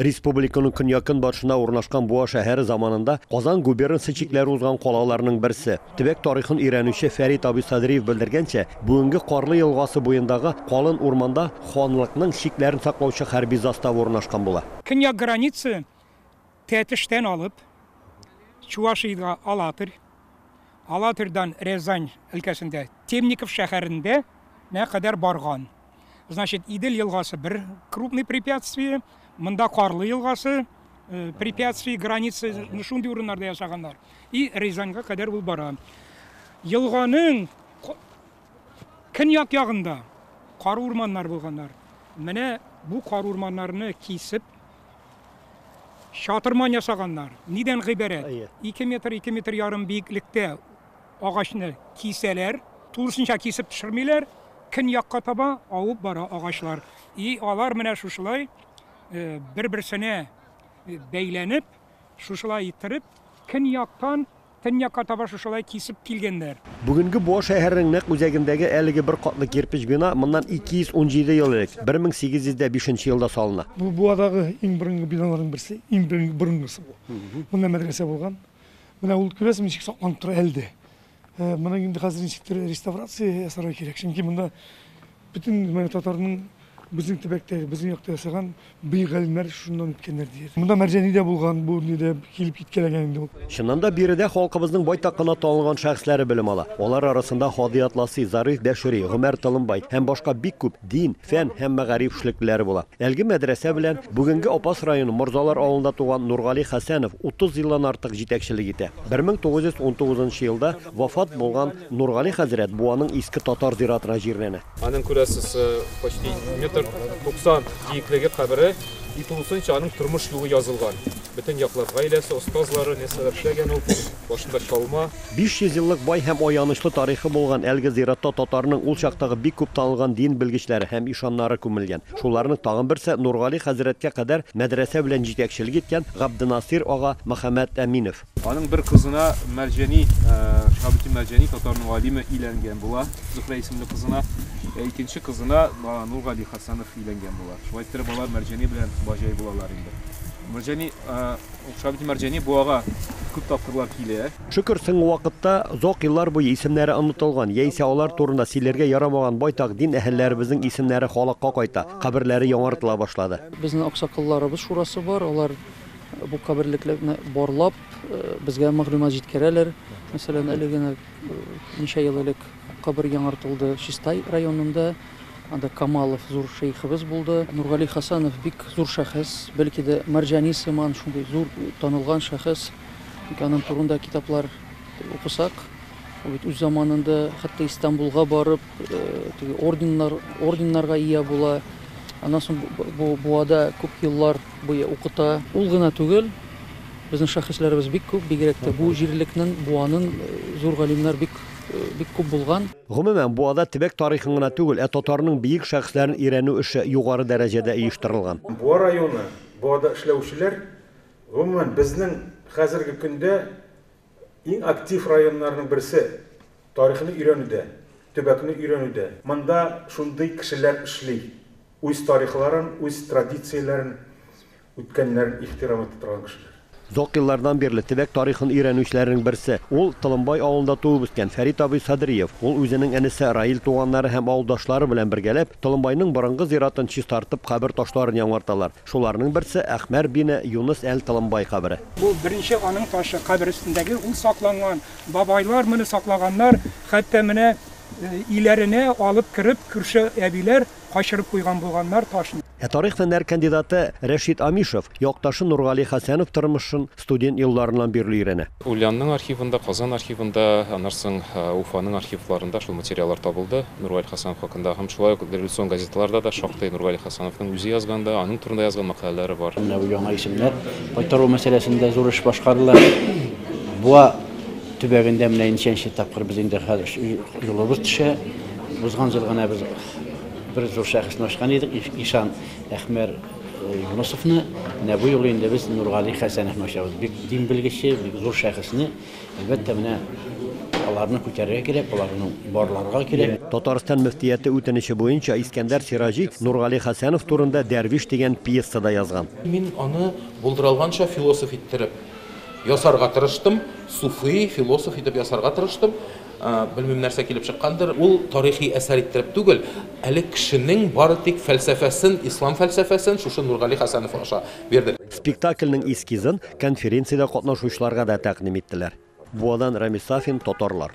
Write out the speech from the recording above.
Республиканың көньяк-көнбатышында урнашкан Буа шәһәре заманында Казан губернасы чикләре узган калаларның берсе. Төбәк тарихын өйрәнүче Фәрит абый Садриев белдергәнчә, бүгенге Карлы елгасы буендагы калын урманда ханлыкның чикләрен саклаучы хәрби застава урнашкан була. Көньяк граница Тәтештән алып Чувашиядә Алатырь, Алатырьдан Рязань өлкәсендә Темников шәһәрендә нә кадәр барган. Значит, Идел елгасы бер крупный препятствие, монда Карлы елгасы э, препятствие границы ну, шундый урыннарда ясаганнар. И Рязаньга кадәр ул бара. Елганың көньяк ягында кару урманнар булганнар. Менә бу кару урманнарны кисеп Чатырман ясаганнар. Нидән гыйбарәт? Әйе. Ике метр, ике метр ярым биеклектә агачны кисәләр. Тулысынча кисеп төшермиләр. Көньякка таба авып бара агачлар. И алар менә шушылай э, бер-берсенә э, бәйләнеп, шушылай иттереп, көньяктан Төньякка таба шушылай кисеп килгәннәр. Бүгенге Буа шәһәренең нәкъ үзәгендәге әлеге бер катлы кирпеч бина моннан 217 ел элек, 1805 нче елда салына. Бу Буадагы иң борынгы биналарның берсе, иң борынгысы бу. Монда мәдрәсә булган. Менә ул, күрәсең, ничек сакланып тора әле дә. Моның инде хәзер ничектер реставрация ясарга кирәк, чөнки монда Бөтен менә татарның безнең төбәктәге, безнең якта яшәгән бөек галимнәр шуннан үткәннәр дияр. Монда Мәрҗани дә булган, бу ни дә килеп киткәләгән инде ул. Чыннан да, биредә халкыбызның байтак кына танылган шәхесләре белем ала. Алар арасында Һади Атласи, Зариф Бәшири, Гомәр Толымбай һәм башка бик күп дин, фән һәм мәгариф эшлеклеләре була. Әлеге мәдрәсә белән бүгенге Апас районы Морзалар авылында туган Нургали Хәсәнов 30 елдан артык җитәкчелек итә. 1919 елда Вафат булган Нургали хәзрәт Буаның Иске татар зиратына җирләнә. Аның, күрәсез, почти метр 90 биеклеге кабере, и тулысынча аның тормыш юлы язылган. Бөтен яклап гаиләсе, остазлары, нәрсәләр эшләгән ул, башында чалма. 500 еллык бай һәм аянычлы тарихы булган әлеге зиратта татарның ул чактагы бик күп танылган дин белгечләре һәм ишаннары күмелгән. Шуларның тагын берсе, Нургали хәзрәткә кадәр мәдрәсә белән җитәкчелек иткән Габденасыйр ага Мөхәммәтәминов. Аның бер кызына Мәрҗәни, Шабити Мәрҗәни татарның галиме иләнгән була, Зухрә исемле кызына. Ә икенче кызына Нургали Хасанов иләнгән була. Шулай иттереп алар Мәрҗәни белән баҗай булалар инде. Мәрҗәни, Шабити Мәрҗәни буага күп тапкырлар килә. Шөкер, соңгы вакытта озак еллар буе исемнәре онытылган, яисә алар турында сөйләргә ярамаган байтак дин әһелләребезнең исемнәре халыкка кайта, каберләре яңартыла башлады. Безнең аксакалларыбыз шурасы бар, алар. Бу каберлекләрне барлап, безгә мәгълүмат җиткерәләр. Мәсәлән, әле генә ничә ел элек кабер яңартылды Чистай районында. Анда Камалов зур шәехебез булды. Нургали Хасанов бик зур шәхес, бәлки дә Мәрҗани сыман шундый зур танылган шәхес. Ник аның турында китаплар укысак, ул бит үз заманында хәтта Истанбулга барып, теге орденнар, орденнарга ия була. Аннан соң бу буада күп еллар Буе укыта. Ул гына түгел, безнең шәхесләребез бик күп, бигрәк тә бу җирлекнең, Буаның зур галимнәр бик, бик күп булган. Гомумән, Буада төбәк тарихын гына түгел, ә татарның биек шәхесләрен өйрәнү эше югары дәрәҗәдә оештырылган. Буа районы, Буада эшләүчеләр, гомумән, безнең хәзерге көндә Иң актив районнарның берсе, тарихны өйрәнүдә, төбәкне өйрәнүдә. Монда шундый кешеләр эшли, үз тарихларын, үз традицияләрен, үткәннәрен ихтирам итә торган кешеләр. Озак еллардан бирле төбәк тарихын өйрәнүчеләрнең берсе, ул, Толымбай авылында туып-үскән Фәрит абый Садриев. Ул үзенең энесе Раил туганнары һәм авылдашлары белән бергәләп, Толымбайның борынгы зиратын чистартып, кабер ташларын яңарталар. Шуларның берсе, Әхмәр бин Юныс әл-Талымбай кабере. Бу беренче аның ташы, кабер өстендәге, ул сакланган. Бабайлар моны саклаганнар, хәтта менә өйләренә алып кереп, күрше әбиләр качырып куйган булганнар ташны. Ә тарих фәннәр кандидаты Рәшит Амишев якташы Нургали Хәсәнов тормышын, студент елларыннан бирле өйрәнә. Ульянның архивында, Казан архивында, аннан соң Уфаның архивларында шул материаллар табылды Нургали Хәсәнов хакында. Һәм шулай ук революцион газеталарда да шактый Нургали Хәсәновның үзе язган да, аның турында язган мәкаләләре бар. Менә бу яңа исемнәр кайтару мәсьәләсендә зур эш башкарыла. Буа төбәгендә менә ничәнче тапкыр без инде хәзер юлыбыз төшә. Узган ел гына без бер зур шәхесне ачкан идек, Ишан Әхмәр. Юнысовны менә бу юлы инде без Нургали Хәсәновны ачабыз. Бик дин белгече, бик зур шәхесне, әлбәттә, менә аларны күтәрергә кирәк, аларны барларга кирәк. Татарстан мөфтияте үтенече буенча Искәндәр Сираҗи Нургали Хәсәнов турында Дәрвиш дигән пьеса да язган. Мин аны булдыралганча философ иттереп ясарга тырыштым, суфи, философ итеп ясарга тырыштым. Белмим, нәрсә килеп чыккандыр. Ул тарихи әсәр иттереп түгел, әле кешенең бары тик фәлсәфәсен, ислам фәлсәфәсен шушы Нургали Хәсәнов аша бирде. Спектакльнең эскизын конференциядә катнашучыларга да тәкъдим иттеләр. Буадан Рәмис Сафин, Татарлар.